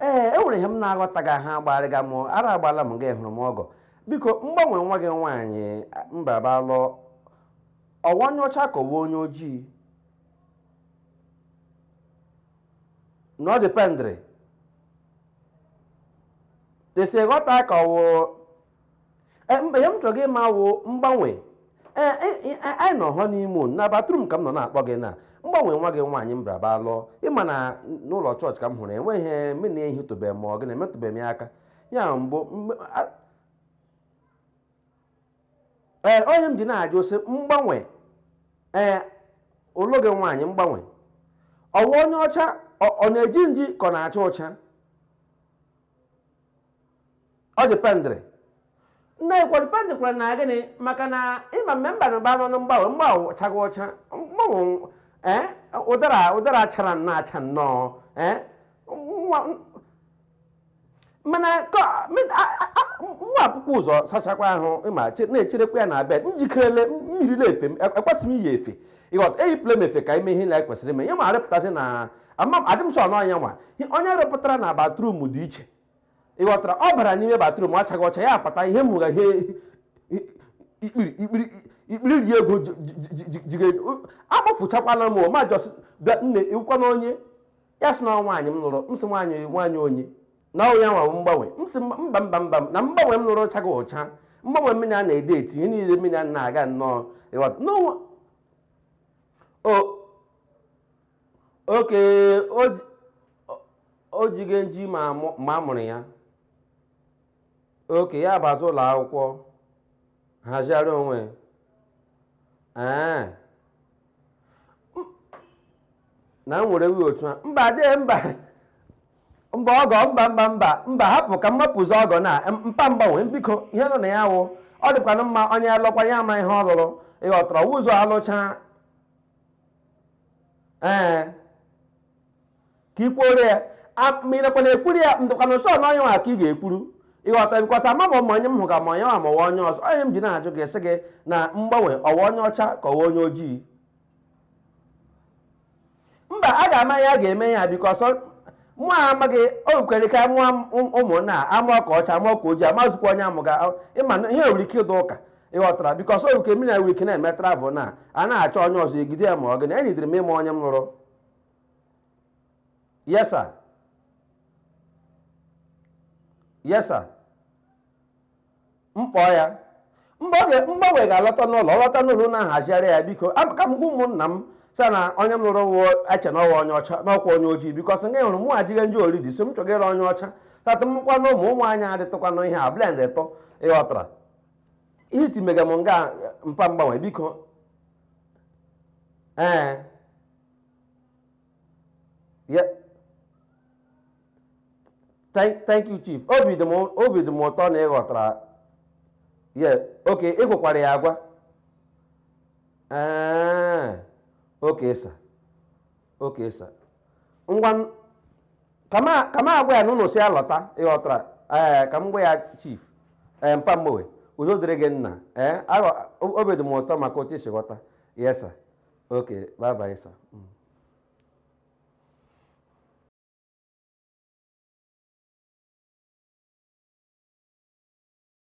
ee e nwere ihe m na-aghọtaghị ahụ agbarịga m ara agbala m gị hụrụ m ọgọ biko mgbanwe nwa gị nwaanyị m bịara bịa lụọ ọ wụ onye ọcha ka ọ wụ onye ojii na ọ dependịrị etu e si ghọta ka ọ wụ Eh, mba ihe m chọrọ gị ma wụ mgbanwe Eh, eh, eh, anyị nọ honeymoon na bathroom ka m nọ na-akpọ gị na mgbanwe nwa gị nwaanyị m bịara bịa lụọ ị ma na n'ụlọ chọọchị ka m hụrụ enweghị ihe m na-ehitụbeghị ma ọ gị na-emetụbeghị m ya aka ya mbụ mgbe- a- ee ọ ya m ji na-ajụ sị mgbanwe ee ulu gị nwaanyị mgbanwe ọ wụ onye ọcha ọ ọ na-eji nji ka ọ na-acha ụcha ọ dependịrị na-ekwu dependịrị kwa na gịnị maka na ị ma mme mba na mba nọ na mgbanwe mgbanwe chaga ọcha mgbanwe ee ụdara ụdara chara nnọọ acha nnọọ ee mana mụwa ebukwa ụzọ sachakwa ahụ ị ma na-echerekwa ya na bed njikerele mmiri na-efe m ekwesịghị m iyi efe ị ghọta eyipụla m efe ka ime ihe na ekwesịrị ime ihe ma arịpụta sị na adị m sure na onye nwa onye rịpụtara na bathroom dị iche ị ghọtara ọ bara n'ime bathroom achaga ọcha ya apụta ihe m hụga ihe ikpiri ikpiri ikpiri ri ego jige akpọfụchakwala m ma just bịa nne ị wụkwanụ onye ya sị na ọ nwaanyị m lụrụ m sị nwaanyị nwaanyị onye na ọ wụ ya wụ mgbanwe m sị mba mba mba na mgbanwe m lụrụ chaga ọcha mgbanwe mmiri a na-ede eti ihe niile mmiri a na-aga nnọọ ị ghọta n'onwe o okay o jighị nji ma a mụrụ ya okay ya bazi ụlọ akwụkwọ hazigharịa onwe ee na m were wi otu a mba dee mba mba ọgọ mba mba mba mba hapụ ka m mapụzi ọgọ na mpa mgbanwe biko ihe nọ na ya wụ ọ dịkwanụ mma onye lụkwa ya ama ihe ọ lụrụ ị ghọtara ụzọ alụcha ee ka i kwuoro ya ma ị nakwa na-ekwuru ya dịkwanụ sure na onye nwa ka ị ga-ekwuru ị ghọta because ama m ma onye m hụ ka ma onye nwa ma ọ wụ onye ọzọ ọ ya m ji na-ajụ gị sị gị na mgbanwe ọ wụ onye ọcha ka ọ wụ onye ojii mba a ga-ama ya a ga-eme ya because mụ a amaghị o kwere ka mụọ ụmụnna amụọ ka ọcha amụọ ka ojii amazụkwa onye amụga ị ma na ihe nwere ike ịdụ ụka ị ghọtara because oru ke mina wik na-eme travel na a na-achọ onye ọzọ egide ya ma ọ gịnị enyidiri m ịma onye m lụrụ yes sir yes sir m kpọọ ya mgbanwe ga-alọta n'ụlọ ọ lọta n'ụlọ na-ahazigharị ya biko ka m gwa ụmụnna m sir na onye m lụrụ wụọ eche na ọ wụ onye ọcha na ọ kwa onye ojii because nga hụrụ mụ ejigha nji already so m chọgara onye ọcha tata mụkwa na ụmụ ụmụ anyị adịtụkwanụ ihe a blend ịtọ ị ghọtara ihe iti mega m nga mpa mgbanwe biko ee ya thank thank you chief obi dị m obi dị m ụtọ na ị ghọtara ya okay ị gwakwara ya agwa ee okay sir okay sir ngwa ka m agwa ya na ụnụ sị ya lọta ị ghọtara ee ka m gwa ya chief ee mpa mgbowe udo dịrị gị nna ee obi dị m ụtọ maka otu i si ghọta yes sir okay bye bye sir mm.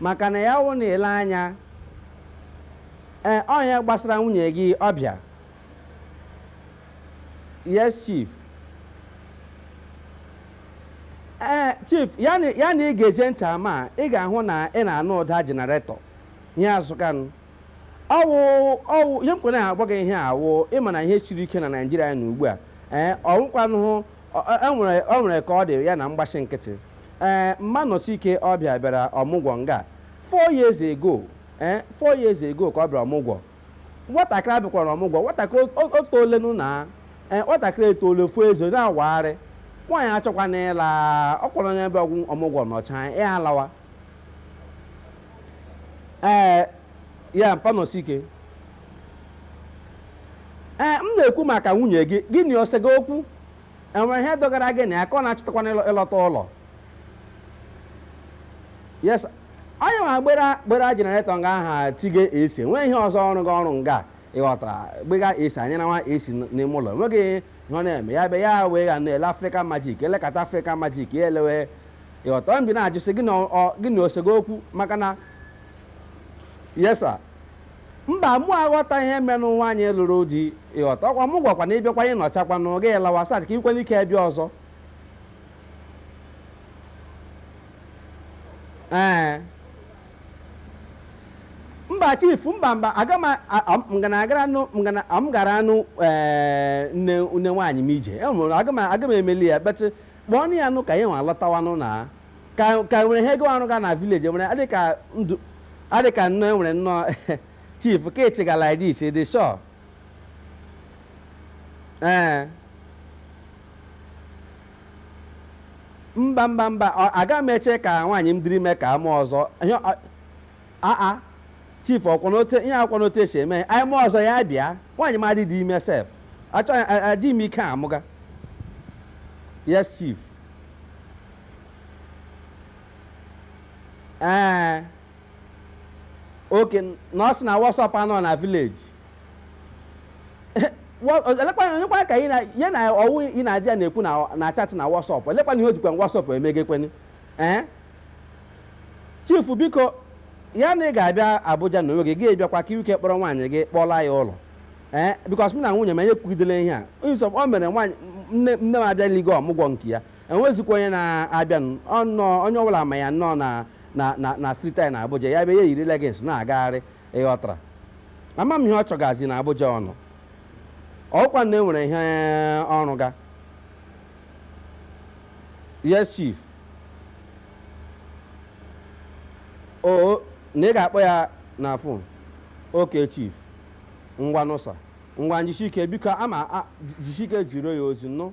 Maka na ya wụ na i lee anya, ee, ọ ihe gbasara nwunye gị ọbịa. Yes, chief. Ee, chief, ya na ya na ị ga-eje ntị ama a, ị ga-ahụ na ị na-anụ ụda generator ihe azụkanụ. Ọ wụ ọ wụ ihe m kwere na-agwa gị ihe a wụ ị ma na ihe siri ike na Naịjirịa na ugbu a. Ee, ọ wụkwanụ O nwere ka ọ dị ya na m gbashi nkịtị. Ee, mpa Nọsike ọbịa bịara ọmụgwọ nga four years ago. Ee, four years ago ka ọ bịara ọmụgwọ. Nwatakịrị a bịakwaranụ ọmụgwọ. Nwatakịrị etoolenụ na ee, nwatakịrị etoole fụọ eze na-awagharị. Nwaanyị achọkwana ịla, ọ kwa onye bịa ọmụgwọ nọchaa ya alawa. Ee, ya mpa Nọsike. ee m na-ekwu maka nwunye gị gị na o sega okwu e nwere ihe dọgara gị na ya ka ọ na-achọkwana ịlọ- ịlọta ụlọ yes onye nwa gbera gbera generator nga aha tige AC nwee ihe ọzọ ọrụ gị ọrụ nga ị ghọtara gbega AC anyị na nwa esi n'ime ụlọ enweghị ihe ọ na-eme ya be ya wee ga na-ele African Magic e lekata African Magic ya elewe ị ghọta mbi na-ajụsị gị na ọ- gị na o sega okwu maka na yes sir Mba, mụ aghọta ihe menụ nwanyị lụrụ di ị ghọta. Ọ kwa mụ gwakwa na ị bịakwa ị nọchakwanụ, gị lawa so that ka i kwere ike bịa ọzọ. Ee. Mba chief, mba mba, aga m ngana agara nụ ngana m gara anụ ee nne nne nwaanyị m ije. E nwere aga m aga m emeli ya, but kpọọnụ ya nụ ka ya nwa lọtawanụ na. ka ka nwere ihe ọ rụga na vileji nwere adị ka ndụ adị ka nnọọ enwere nnọọ chief ka ị chịga like this ị dị sure ee mba mba mba ọ- aga m eche ka nwaanyị m dịrị ime ka emee ọzọ ihe ọ- aa chief ọ kwanụ otu ihe a kwanụ otu e si eme anyị mee ọzọ ya bịa nwaanyị m adịrị ime sef achọghị adị m ike amụga yes chief ee oke na o si na wọsọp anọ na vileji onyekwa ka ya na ọwụ ị na-adị ya na-ekwu na-achatị na wọsọp olekwanụ ihe o jikwa wọsọp emegakwanụ ee chifu biko ya na ị ga-abịa Abuja na onwe gị gị bịakwa ka i nwee ike kpọrọ nwaanyị gị kpọla ya ụlọ ee bikos m na nwunye m anyị ekwugidela ihe a so o mere nwaanyị nne m abịaligo ọmụgwọ nke ya enwezikwa onye na-abịa ọnọọ onye ọbụla ma ya nnọọ na na na na striti anyị na Abuja ya bịa ya yiri legins na-agagharị ịghọtara ama m ihe ọ chọgazi na Abuja ọ nọ ọkwa na enwere ihe ọ rụga yes chief o na ị ga-akpọ ya na fon oke chief ngwanụ sa ngwanụ jisike biko ama jisike ziro ya ozi nụ